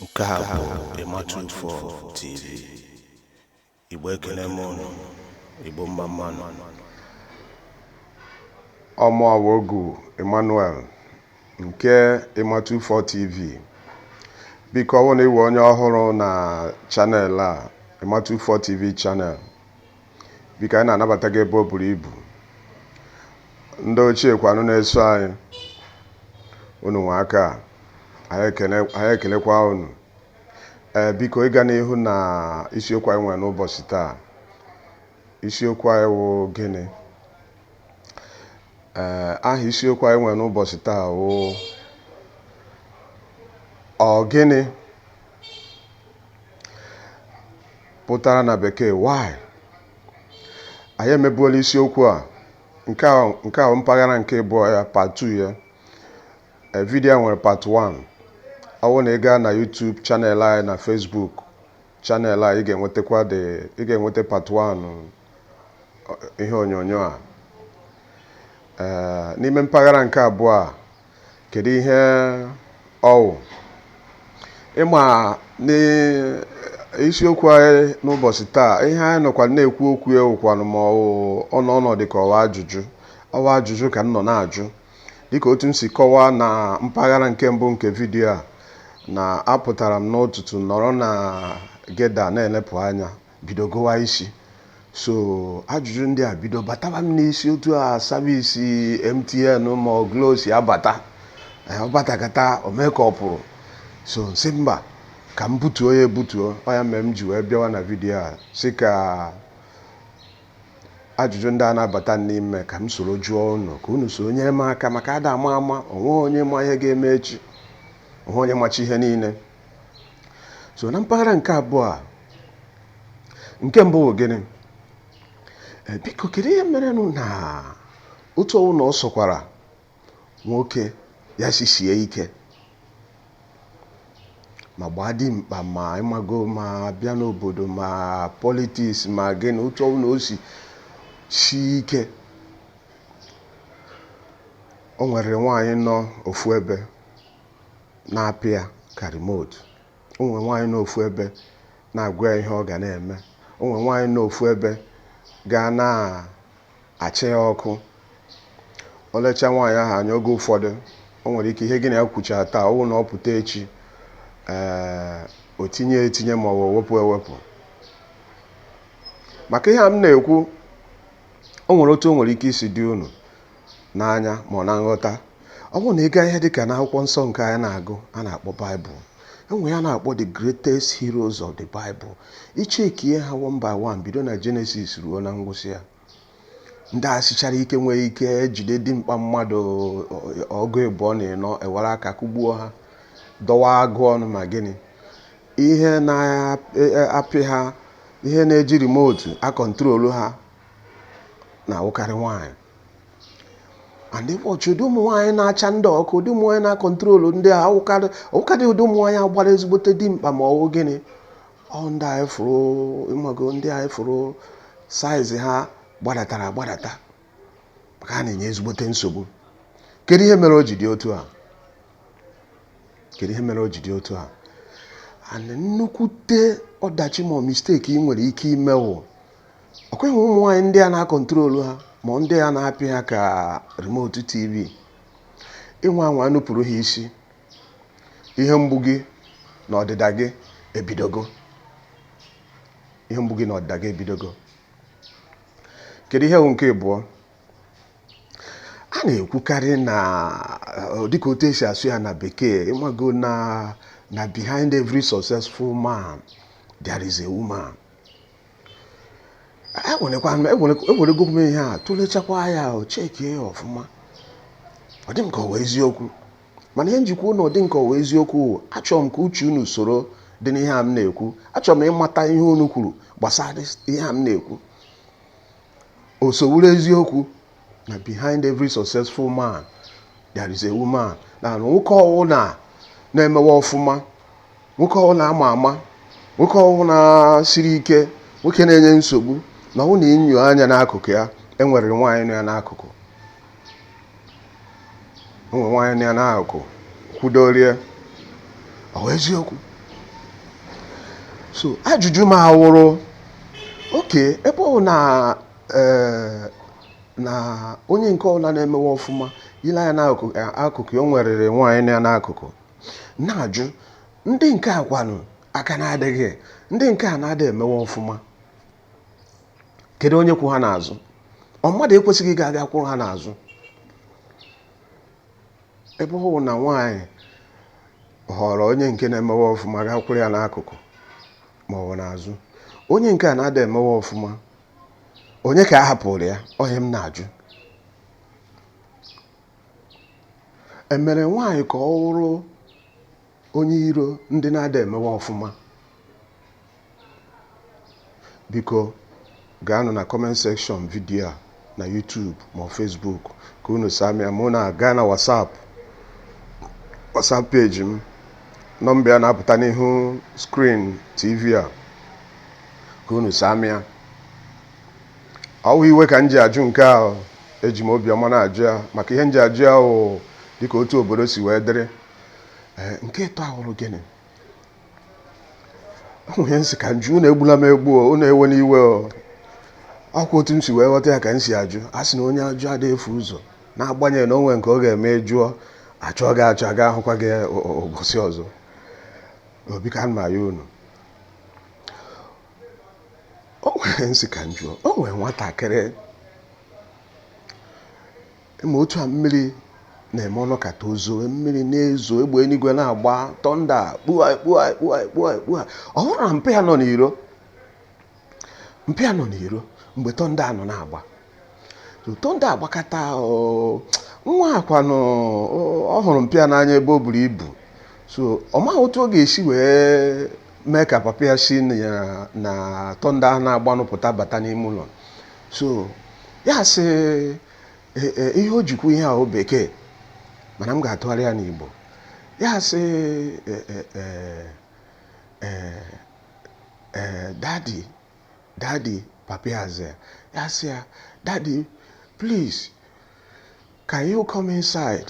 nke a bụ ịmatụfọ tv igbo ekele m unu igbo mma mma nụ ọ mụ awogu emmanuel nke ịmatụfọ tv biko ọ bụrụ na ị wụ onye ọhụrụ na channel a ịmatụfọ tv channel Biko anyị na-anabata gị ebe o buru ibu. Ndị ochie kwanụ na-eso anyị. Unu anwaka. Anyị ekele anyị ekelekwa unu. Ee, biko anyị gaa n'ihu na isiokwu anyị nwere n'ụbọchị taa. Isiokwu anyị wụ gịnị? Ee, aha isiokwu anyị nwere n'ụbọchị taa wụ ọ gịnị? pụtara na bekee why anyị emebuola isiokwu a nke a nke a mpaghara nke ịbụọ ya part 2 ya Eh, vidiyo a nwere part 1 ọ bụrụ na ị gaa na YouTube channel anyị na Facebook channel a ị ga-enwetakwa the ị ga-enweta part 1 eh, ihe onyonyo a Eh, n'ime mpaghara nke abụọ a Kedu ihe ọ wụ? Ị ma na isiokwu anyị n'ụbọchị taa, ihe anyị nọkwa na-ekwu okwu ya wụkwanụ ma na ọ nọ dịka ọ wụ ajụjụ. Ọ wụ ajụjụ ka m nọ na-ajụ. Dịka otu m si kọwaa na mpaghara nke mbụ nke vidiyo a, na apụtara m n'ụtụtụ nọrọ na Geda na-elepụ anya bido gụwa isi so ajụjụ ndị a bido bataba m n'isi otu a service MTN ma ọ Glo si abata Eh, ọ batakata o mee ka ọ pụrụ so m sị mba ka m butuo ya ebutuo ọ ya mere m ji wee bịawa na vidiyo a sị ka ajụjụ ndị a na-abata n'ime ka m soro jụọ unu ka unu soro nyere m aka maka ada ama ama onweghị onye ma ihe ga-eme echi onweghị onye macha ihe niile so na mpaghara nke abụọ a nke mbụ bụ gịnị eh, biko kedu ihe merenụ na otu ọ wụna ọ sọkwara nwoke ya si sie ike ma gbaa dimkpa ma ịmago ma bịa n'obodo ma politiks ma gịnị otu ọ wụna o si sie ike o nwere nwaanyị nọ ofu ebe na-apị ya ka remote o nwere nwaanyị nọ ofu ebe na-agwa ya ihe ọ ga na-eme o nwere nwaanyị nọ ofu ebe ga na-achị ya ọkụ o lechaa nwaanyị ahụ anya oge ụfọdụ o nwere ike ihe gị na ya kwuchaa taa ọ bụrụ na ọ pụta echi ee o tinye ya etinye ma ọ bụ o wepụ ewepụ maka ihe a m na-ekwu o nwere otu o nwere ike isi dị unu n'anya ma ọ na nghọta ọ bụrụ na ị gaa ihe dịka n'akwụkwọ nsọ nke anyị na-agụ a na-akpọ baịbụl enwere ihe a na-akpọ the greatest heroes of the bible ichekie ha one by one bido na jenesis ruo na ngwụsị ya ndị a sichara ike nwee ike jide dimkpa mmadụ ọgụ ịbụọ na ịnọ were aka kụgbuo ha dọwa agụ ọnụ ma gịnị ihe na-apị ha ihe na-eji remotu akọntrolu ha na-awụkarị nwaanyị and ịkpọchi ụdị ụmụ nwaanyị na-acha ndị ọkụ ụdị ụmụ nwaanyị na-akọntrolu ndị a awụkarị ọwụkarị ụdị ụmụ nwaanyị a gbara ezigbote dimkpa ma ọwụ gịnị ọ ndị anyị fụrụ ịmago ndị anyị fụrụ saizi ha gbadatara agbadata maka ha na-enye ezigbote nsogbu kedu ihe mere o ji dị otu a kedu ihe mere o ji dị otu a and nnukwute ọdachi ma misteki ị nwere ike ime wụ ọkwa ịma ụmụ nwaanyị ndị a na-akọntrolu ha ma ndị a na-apị ha ka remote tv ịnwa anwa nupụrụ ha isi ihe mgbu gị na ọdịda gị ebidogo ihe mgbu gị na ọdịda gị ebidogo kedu ihe bụ nke ịbụọ a na-ekwukarị na eh, dịka otu esi asụ ya na bekee ịmago na na behind every successful man there is a woman ewerego m ihe a tụlechakwa ya o chekie ya ọfụma ọ dị m ka ọwụ eziokwu mana ihe m ji kwuo na ọ dị m ka ọwụ eziokwu achọrọ m ka uche unu soro dị n'ihe a m na-ekwu achọrọ m ịmata ihe unu kwuru gbasara ihe a m na-ekwu o so wụrụ eziokwu na behind every successful man there is a woman na nwoke ọwụla na-emewe ọfụma nwoke ọwụla ama ama nwoke ọwụla siri ike nwoke na-enye nsogbu na ọ na inyo anya n'akụkụ ya enwere nwaanyị nọ ya n'akụkụ enwere nwaanyị nọ ya n'akụkụ kwudorie ọ eziokwu so ajụjụ m awụrụ okay ebe ọ na ee na onye nke ọbụla na-emewe ọfụma ile anya n'akụkụ ya enweriri nwaanyị nọ ya n'akụkụ na-ajụ ndị nke a kwanụ aka na-adịghị ndị nke a na-adị emewe ọfụma kedu onye kwụ ha n'azụ ọ mmadụ ekwesịghị ịga aga kwụrụ ha n'azụ ebe ọ bụ na nwaanyị họrọ onye nke na-emewe ọfụma gaa kwụrụ ya n'akụkụ ma ọ bụ n'azụ onye nke a na-ada emewe ọfụma onye ka a hapụrụ ya ọ ihe m na-ajụ e mere nwaanyị ka ọ wụrụ onye iro ndị na-ada emewe ọfụma biko gaanụ na comment section video a na YouTube ma ọ Facebook ka unu saa m ya ma unu aga na WhatsApp WhatsApp page m nọmba ya na-apụta n'ihu screen TV a ka unu saa m ya ọ wụghị iwe ka m ji ajụ nke a eji m obiọma na-ajụ ya maka ihe m ji ajụ ya wụ dịka otu obodo si wee dịrị ee nke ịtọ a wụrụ gịnị ahụ ihe m sị ka m jụọ unu egbula m egbu o unu ewena iwe o ọ kwa otu m si wee ghọta ya ka m si ajụ a sị na onye ajụjụ adịghị efu ụzọ n'agbanyeghị na o nwere nke ọ ga-eme jụọ a chọọ gị achọ aga ahụkwa gị ụbọchị ọzọ obi ka m ma ya unu o nwe ihe m sị ka m jụọ o nwere nwatakịrị ị ma otu a mmiri na-eme ọ nọkata o zoo mmiri na-ezo egbe eluigwe na-agba thunder kpua kpua kpua kpua kpua ọ hụrụ na mpa ya nọ n'iro mpa ya nọ n'iro mgbe thunder nọ na-agba Thunder agbakata oo, nwa a kwanụ oo, ọ hụrụ mpa ya n'anya ebe o buru ibu so ọ maghị otu ọ ga-esi wee mee ka papa ya si na thunder ahụ na-agbanụ pụta bata n'ime ụlọ so ya sị e, e, ihe o ji kwuo ihe a ọ bekee mana m ga-atụgharị ya n'Igbo ya sị e, e, e, e, e, daddy Daddy papa ya azaa ya ya sị ya daddy please can you come inside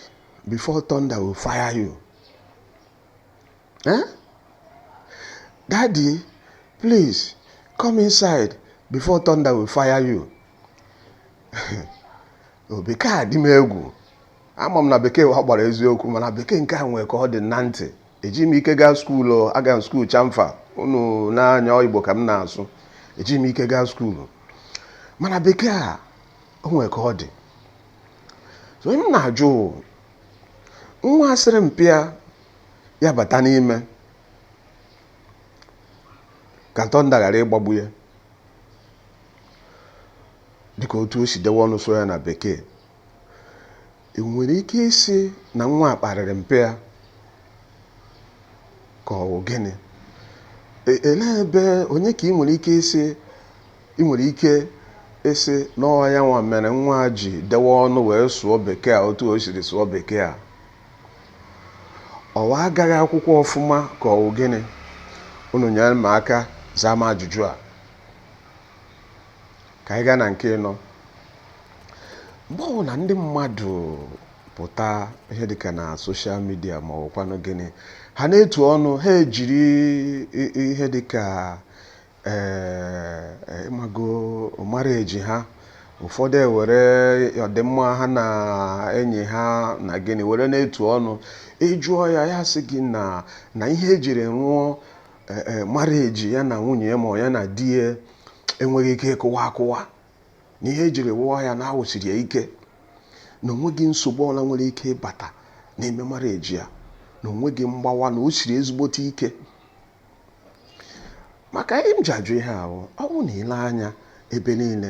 before thunder will fire you eh? daddy please come inside before thunder will fire you o bekee a dị m egwu ama m na bekee wụ agbara eziokwu mana bekee nke a nwee ka ọ dị na ntị ejighị m ike gaa skuulu aga m skuulu chamfa unu na-anụ ya ọ Igbo ka m na-asụ ejighị m ike gaa skuulu mana bekee a o nwere ka ọ dị so ọ ihe m na-ajụ nwa a sịrị mpa ya bata n'ime ka thunder ghara ịgbagbu ya dịka otu o si dewe ọnụ sụọ ya na bekee E nwere ike ịsị na nwa a kparịrị mpa ya ka ọ wụ gịnị? E- Elee ebe onye ka ị nwere ike ịsị ị nwere ike ịsị na ọ wụ ya nwa mere nwa a ji dewe ọnụ wee sụọ bekee a otu o siri sụọ bekee a? Ọ wụ agaghị akwụkwọ ọfụma ka ọ wụ gịnị? Unu nyere m aka zaa m ajụjụ a. ka anyị gaa na nke ịnọ mgbe ọbụla ndị mmadụ pụta ihe dịka na social media ma ọ wụkwanụ gịnị ha na-etu ọnụ ha ejiri ihe dịka ee ịmago marriage ha ụfọdụ ewere ọdịmma ha na enyi ha na gịnị were na-etu ọnụ ịjụọ ya ya sị gị na na ihe ejiri wụọ eh, eh, marriage ya na nwunye ya ma ya na di ya enweghị ike ịkụwa akụwa na ihe ejiri wụọ ya na awụsiri ya ike na onweghị nsogbu ọbụla nwere ike ịbata n'ime marriage ya na onweghị mgbawa na o siri ezigbote ike maka ihe m ji ajụ ihe ahụ ọ wụ na ile anya ebe niile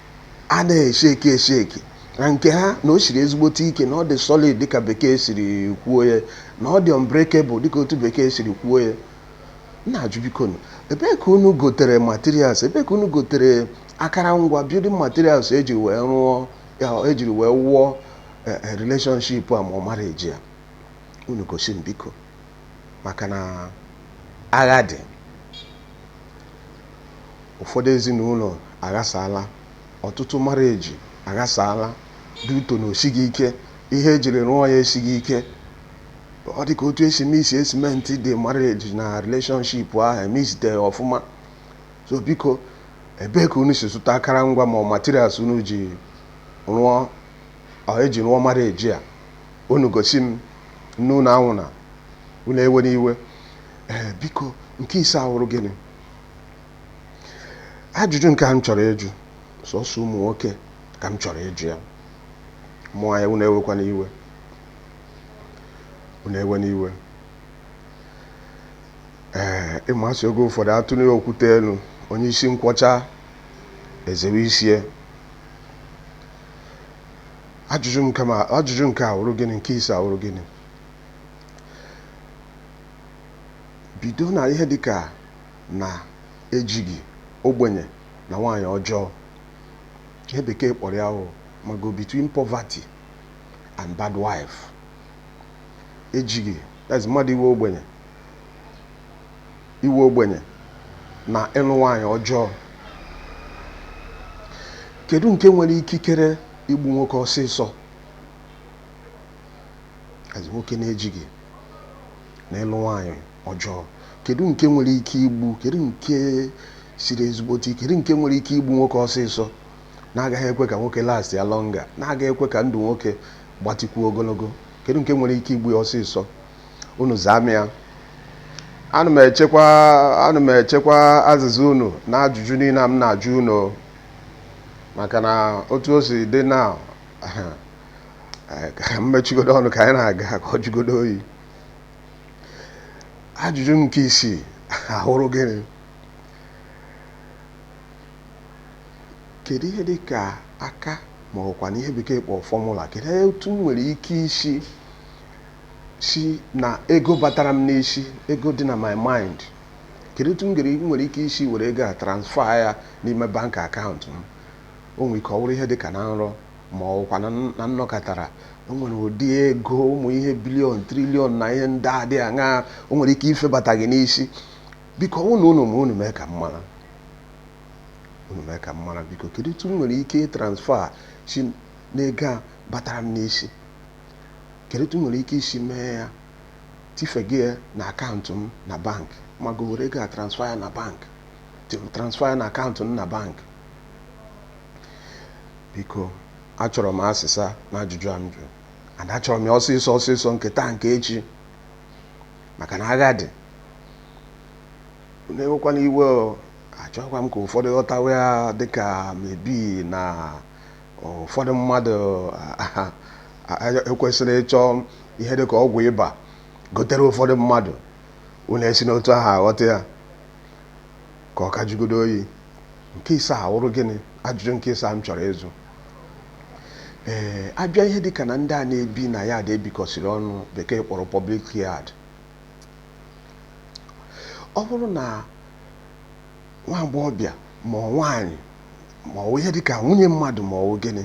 a na-esheki esheki na nke ha na o siri ezigbote ike na ọ dị solid dịka bekee siri kwuo ya na ọ dị unbreakable dịka otu bekee siri kwuo ya m na-ajụ bikonụ ebee ka unu gotere materials ebee ka unu gotere akara ngwa building materials ejiri ejiri wee wụọ eh, eh, relationship a ma ọ marriage a unu gosi m biko maka na agha dị ụfọdụ ezinụlọ aghasaala, ọtụtụ marriage aghasaala, due to na osighị ike, ihe ejiri rụọ ya esighị ike. Ọ dị ka otu esi mix cement dị marriage na relationship ahụ emixiteghị ọfụma. So biko, ebee ka unu si zụta akara ngwa ma ọ materials unu ji rụọ ji rụọ marriage a? Unu gosi m, nne unu anwụna, unu ewena iwe. ee biko nke ise awụrụ gịnị ajụjụ nke a m chọrọ ịjụ sọsọ ụmụ nwoke ka m chọrọ ịjụ ya ụmụ nwaanyị unu ewekwana iwe unu ewena iwe ee ị ma sị oge ụfọdụ atụnie okwute elu onye isi nkwọcha ezewe isi ya ajụjụ nke ma ajụjụ nke a awụrụ gịnị nke ise awụrụ gịnị bido na ihe dịka na ejighi, ogbenye na nwaanyị ọjọọ. Ihe bekee kpọrọ ya wụ ịmago between poverty and bad wife. Ejighi, that is mmadụ ịwụ ogbenye ịwụ ogbenye na ịlụ nwaanyị ọjọọ. Kedu nke nwere ikikere igbu nwoke ọsịsọ? as nwoke na-ejighị na ịlụ nwaanyị ọjọọ kedu nke nwere ike igbu kedu nke siri ezigbote kedu nke nwere ike igbu nwoke ọsịsọ na-agaghị ekwe ka nwoke lastịa longer na-agaghị ekwe ka ndụ nwoke gbatịkwuo ogologo kedu nke nwere ike igbu ya ọsịsọ unu zaa m ya ana m echekwa ana m echekwa azịza unu na ajụjụ niile m na-ajụ unu maka na otu o si dị na ka m mechigodo ọnụ ka anyị na-aga ka ọ jụgodo oyi ajụjụ nke isii a wụrụ gịnị kedu ihe dị ka aka ma ọ wụkwanụ ihe bekee kpọrọ formula kedu otu m nwere ike isi si na ego batara m n'isi ego dị na my mind kedu otu m nwere ike isi were ego a transfer ya n'ime bank account m O nwere ike ọ wụrụ ihe dị ka na nrọ ma ọ wụkwa na nnọkatara. O nwere ụdị ego ụmụ ihe billion, trillion na ihe ndị a dị aṅaa o nwere ike ifebata gị n'isi. Biko, ọ bụrụ na unu ma, unu mee ka m mara. Unu mee ka m mara, biko. Kedu otu m nwere ike ịtransfer si n'ego a batara m n'isi? Kedu otu m nwere ike isi mee ya tifega ya na account m na bank. Ma gị were ego a transfer ya na bank. Transfer ya na account m na bank. biko achọrọ m azịza n'ajụjụ a m jụrụ and achọrọ m ya ọsịsọ ọsịsọ nke taa nke echi maka na agha dị unu ewekwana iwe achọghịkwa m ka ụfọdụ ghọtawa ya dịka maybe na ụfọdụ mmadụ ekwesịrị ịchọ ihe dịka ọgwụ ịba gotere ụfọdụ mmadụ unu esina otu ahụ aghọta ya Ka ọ ka jụgodu oyi, nke ise a wụrụ gịnị? Ajụjụ nke ise a m chọrọ ịjụ. Ee, a bịa ihe dị ka na ndị a na-ebi na yard e bikọsiri ọnụ Bekee kpọrọ public yard, ọ bụrụ na nwa agbọghọbịa ma ọ nwaanyị ma ọ wụ ihe dị ka nwunye mmadụ ma ọ wụ gịnị,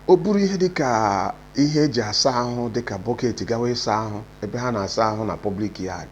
o buru ihe dị ka ihe e ji asa ahụ dị ka bucket gawa ịsa ahụ ebe ha na-asa ahụ na public yard,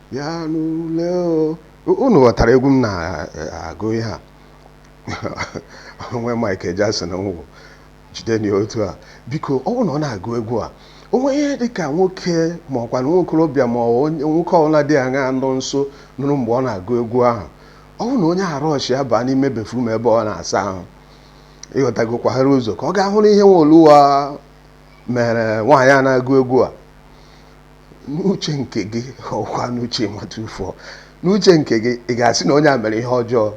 bịanụ lee o unu ghọtara egwu m na-agụ ihe a onwe Michael Jackson nwụrụ jide na otu a biko ọ bụrụ na ọ na-agụ egwu a o nwee ihe dị ka nwoke ma ọ wụkwanụ nwa okorobịa ma nwoke ọbụla dị aṅa nọ nso nụrụ mgbe ọ na-agụ egwu ahụ ọ bụrụ na onye ahụ rushịa baa n'ime bathroom ebe ọ na-asa ahụ ịghọtago kwaghara ụzọ ka ọ ga hụrụ ihe nwa oluwa mere nwaanyị a na-agụ egwu a n'uche nke gị ọkwa n'uche m what of n'uche nke gị ị ga-asị na onye a mere ihe ọjọọ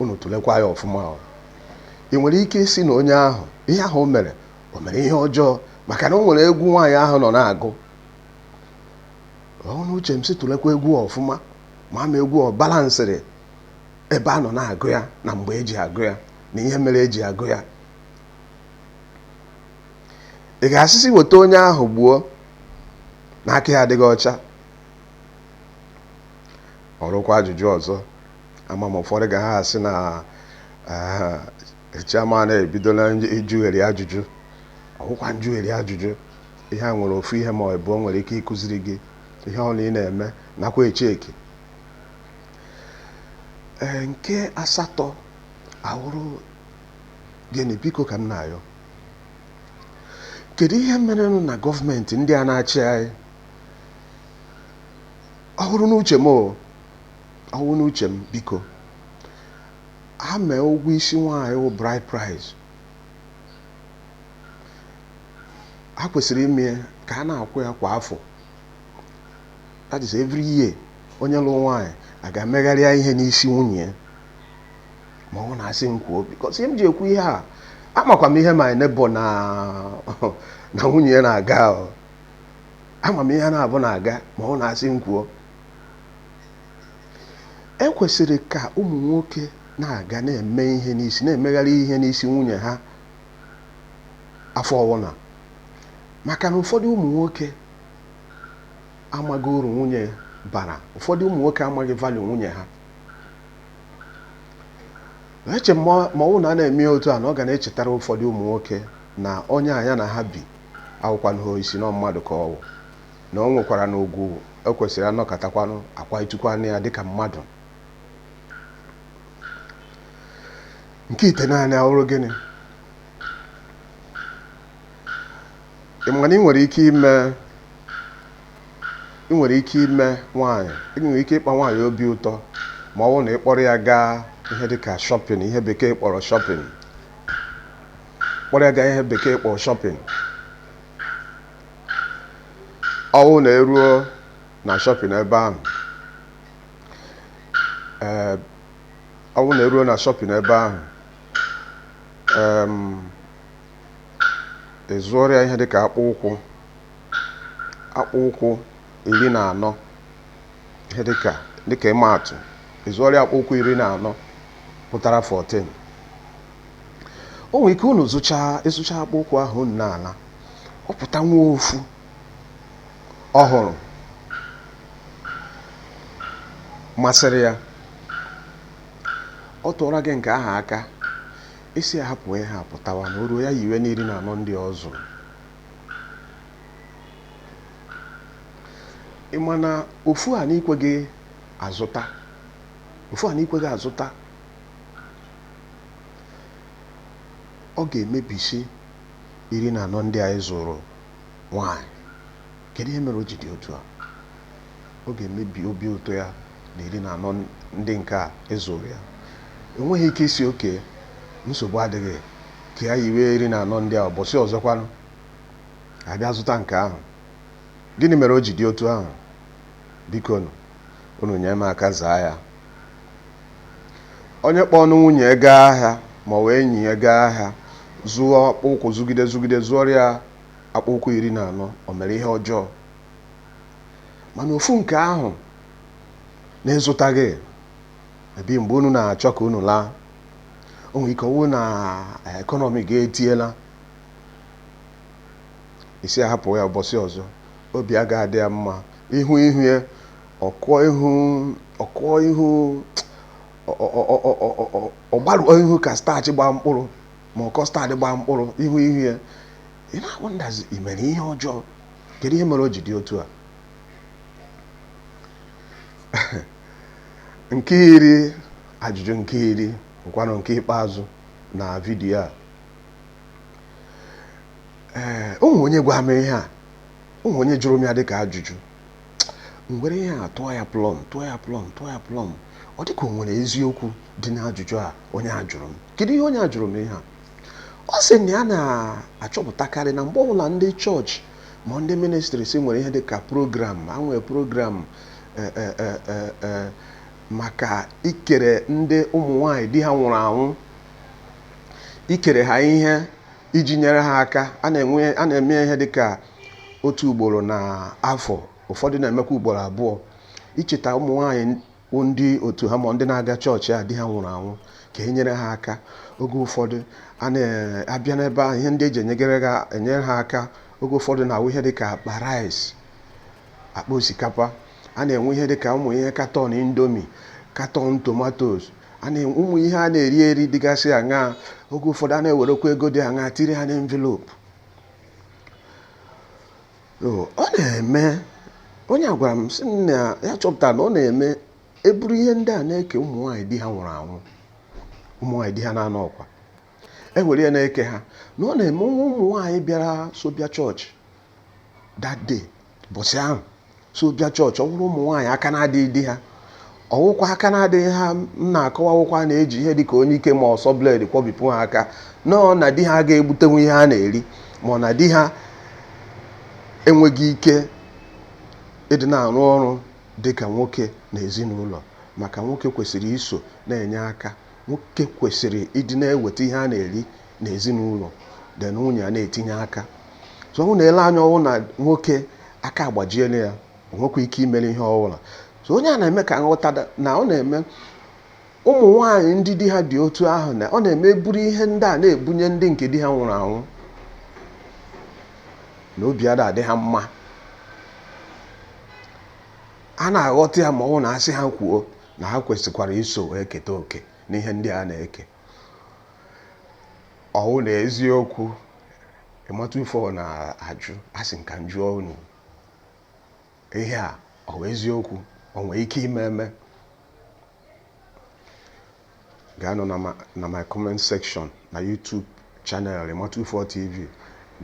unu tụlekwa ya ọfụma o ị nwere ike ịsị na onye ahụ ihe ahụ o mere o mere ihe ọjọọ maka na o nwere egwu nwaanyị ahụ nọ na-agụ ọ n'uche m sị tụlekwa egwu ọfụma ma ama egwu ọ balansịrị ebe a nọ na-agụ ya na mgbe eji agụ ya na ihe mere eji agụ ya ị ga-asịsị weta onye ahụ gbuo na aka ya adịghị ọcha ọrụkwa ajụjụ ọzọ ama m ụfọdụ ga ha asị na chairman ebidola ịjụgheri ajụjụ ọ wụkwa njụgheri ajụjụ ihe a nwere ofu ihe ma ọ bụ o nwere ike ịkụziri gị ihe ọwụna ị na-eme nakwa echeki ee nke asatọ awụrụ gịnị biko ka m na-ayọ kedu ihe merenụ na gọọmenti ndị a na-achị anyị ọ wụrụ n'uche m o, ọ wụrụ n'uche m biko ha mee ụgwọ isi nwaanyị wụ bride price ha kwesịrị ime ya ka a na-akwụ ya kwa afọ that is every year onye lụrụ nwaanyị a ga-emegharịa ihe n'isi nwunye ya ma ọ wụ na asị m kwuo because ihe m ji ekwu ihe a amakwa m ihe my neighbour na nwunye ya na-aga ama m ihe ha naabọ na-aga ma ọ wụ na asị m kwuo ekwesịrị ka ụmụ nwoke na-aga na-eme ihe n'isi na-emegharị ihe n'isi nwunye ha afọ ọwụna maka na ụfọdụ ụmụ nwoke amaghị uru nwunye bara ụfọdụ ụmụ nwoke amaghị value nwunye ha eche m ma ọ bụrụ na a na-eme ya otu a na ọ ga na-echetara ụfọdụ ụmụ nwoke na onye a ya na ha bi awụkwanụ isi na mmadụ ka ọ wụ na o nwekwaranụ ugwu ekwesịrị anọkatakwanụ akwanyetukwanụ ya dịka mmadụ nke itenaanị awụrụ gịnị ị ma na ị nwere ike ime ị nwere ike ime nwaanyị ị nwere ike ịkpa nwaanyị obi ụtọ ma ọ bụrụ na ị kpọrọ ya gaa ihe dị ka shopping ihe bekee kpọrọ shopping kpọrọ ya gaa ihe bekee kpọrọ shopping ọ bụrụ na eruo na shopping ebe ahụ ee ọ bụrụ na eruo na shopping ebe ahụ ee ị zụọrọ ya ihe dị ka akpụ ụkwụ akpụ ụkwụ iri na anọ ihe dịka dịka ịma atụ ị zụọrọ ya akpụ ụkwụ iri na anọ pụtara 14 o nwere ike unu zụchaa ịzụcha akpụ ụkwụ ahụ unu na-ala ọ pụta nwa ofu ọhụrụ masịrị ya ọ tụọra gị nke ahụ aka ị sị a hapụ ihe a pụtawa na o ruo ya yiwe n'iri na anọ ndị ọ zụrụ ị ma na ofu a na i kweghị azụta ofu a na i kweghị azụta ọ ga-emebisi iri na anọ ndị a ị zụrụ nwanyị kedu ihe mere o ji dị otu a ọ ga-emebi obi ụtọ ya na iri na anọ ndị nke a ị zụrụ ya o nweghị ike ịsị okay nsogbu adịghị Ka ya yiwe iri na anọ ndị a ụbọchị ọzọkwanụ, a bịa zụta nke ahụ. Gịnị mere o ji dị otu ahụ? Bikonụ, unu nye m aka zaa ya. Onye kpọọnụ nwunye ya gaa ahịa ma ọ bụ enyi ya gaa ahịa zụọ akpụ ụkwụ zụgide zụgide zụọrọ ya akpụ ụkwụ iri na anọ, o mere ihe ọjọọ. Mana ofu nke ahụ na ị zụtaghị, maybe mgbe unu na-achọ ka unu laa. o nwere ike ọwụ na economy gị etiela ị sị a hapụ ya ụbọchị ọzọ obi agaghị adị ya mma ihu ihu ya ọ kụọ ihu ọ kụọ ihu ọ gbarụọ ihu ka starch gbaa mkpụrụ ma ọkọ starch gbaa mkpụrụ ihu ihu ya ị na-wonder sị i mere ihe ọjọọ kedu ihe mere o ji dị otu a Nke iri ajụjụ nke iri bụkwanụ nke ikpeazụ na vidiyo a. Ee, o nwere onye gwa m ihe a, o nwere onye jụrụ m ya dịka ajụjụ. M were ihe a tụọ ya plọm, tụọ ya plọm, tụọ ya plọm. Ọ dịka o nwere eziokwu dị n'ajụjụ a onye a jụrụ m. Kedu ihe onye a jụrụ m ihe a? Ọ sị na ya na-achọpụtakarị na mgbe ọbụla ndị chọọchị Ma ndị ministries nwere ihe dị ka program, ha nwere program e, e, e, e, e, maka ikere ndị ụmụ nwaanyị di ha nwụrụ anwụ, ikere ha ihe iji nyere ha aka. A na-enwe a na-eme ihe dị ka otu ugboro na afọ, ụfọdụ na-emekwa ugboro abụọ, icheta ụmụ nwaanyị bụ ndị otu ha ma ndị na-aga chọọchị a di ha nwụrụ anwụ ka e nyere ha aka oge ụfọdụ a na-abịa n'ebe ahụ ihe ndị e ji enyegere ha enyere ha aka oge ụfọdụ na-awụ ihe dịka akpa rice akpa osikapa a na-enwe ihe dịka ụmụ ihe carton indomie carton tomatoes a na-enwe ụmụ ihe a na-eri eri dịgasị aṅa oge ụfọdụ a na-ewerekwa ego dị aṅa tiri ha n'envelope ọ na-eme onye a gwara m sị m na ya chọpụtara na ọ na-eme eburu ihe ndị a na-eke ụmụ nwaanyị di ha nwụrụ anwụ ụmụ nwaanyị di ha na-anọọkwa e were ya na-eke ha na ọ na-eme o nwee ụmụ nwaanyị bịara so bịa church that day bọsị ahụ so bịa church ọ wụrụ ụmụ nwaanyị aka na-adịghị di ha ọ wụkwa aka na-adịghị ha m na-akọwa awụkwa na e ji ihe dịka onyike ma ọsọ blade kwabipụ ha aka no na di ha ga-egbutenwu ihe ha na-eri ma ọ na di ha enweghị ike ịdị na-arụ ọrụ dị ka nwoke na ezinụlọ maka nwoke kwesịrị iso na-enye aka nwoke kwesịrị ịdị na-eweta ihe a na-eri na ezinụlọ di na nwunye a na-etinye aka so ọ na-ele anya ọ wụ na nwoke aka agbajiela ya o nwekwa ike imere ihe ọbụla so onye a na-eme ka m ghọta na ọ na-eme ụmụ nwaanyị ndị di ha dị otu ahụ na ọ na-eme eburu ihe ndị a na-ebunye ndị nke di ha nwụrụ anwụ na obi ada adị ha mma a na-aghọta ya ma ọ wụ na a sị ha kwuo na ha kwesịkwara iso eketa oke n'ihe ndị a na-eke ọ wụ na eziokwu ịmata ife na-ajụ asị m ka m jụọ unu ihe a ọ wụ eziokwu o nwere ike ime eme gaanụ na ma- na my comment section na youtube channel emma 24 tv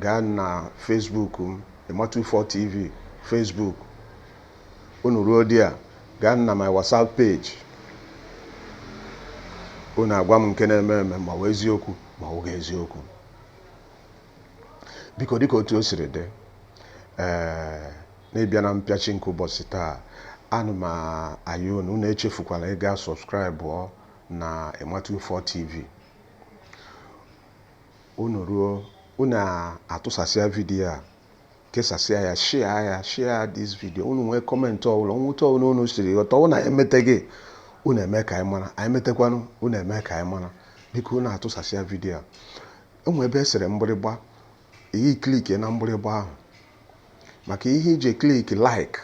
gaa na facebook m emma 24 tv facebook unu ruo there gaa na my whatsapp page unu agwa m nke na-eme eme ma ọ wụ eziokwu ma ọ wụghị eziokwu biko dịka otu o siri dị ee na-ebịa na mpịachi nke ụbọchị taa ana m ayọ unu unu echefukwala ịga subscribe na Emma 24 TV unu ruo unu atụsasịa video a kesasịa ya share ya share this video unu nwee comment ọbụla na otu ọbụla unu siri ghọta anyị emeteghị unu eme ka anyị mara anyị metekwanụ unu eme ka anyị mara biko unu atụsasịa video a E nwere ebe e sere mgbịrịgba, i ye click na mgbịrịgba ahụ maka ihe i ji click like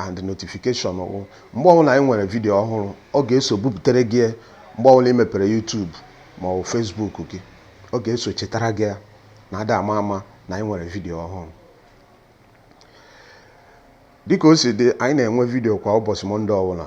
and notification wụ mgbe ọbụla anyị nwere video ọhụrụ ọ ga-eso bupụtere gị ya mgbe ọbụla ị mepere YouTube ma ọ bụ Facebook gị ọ ga-eso chetara gị ya na ada ama ama na anyị nwere video ọhụrụ dịka o si dị anyị na-enwe video kwa ụbọchị Monday ọbụla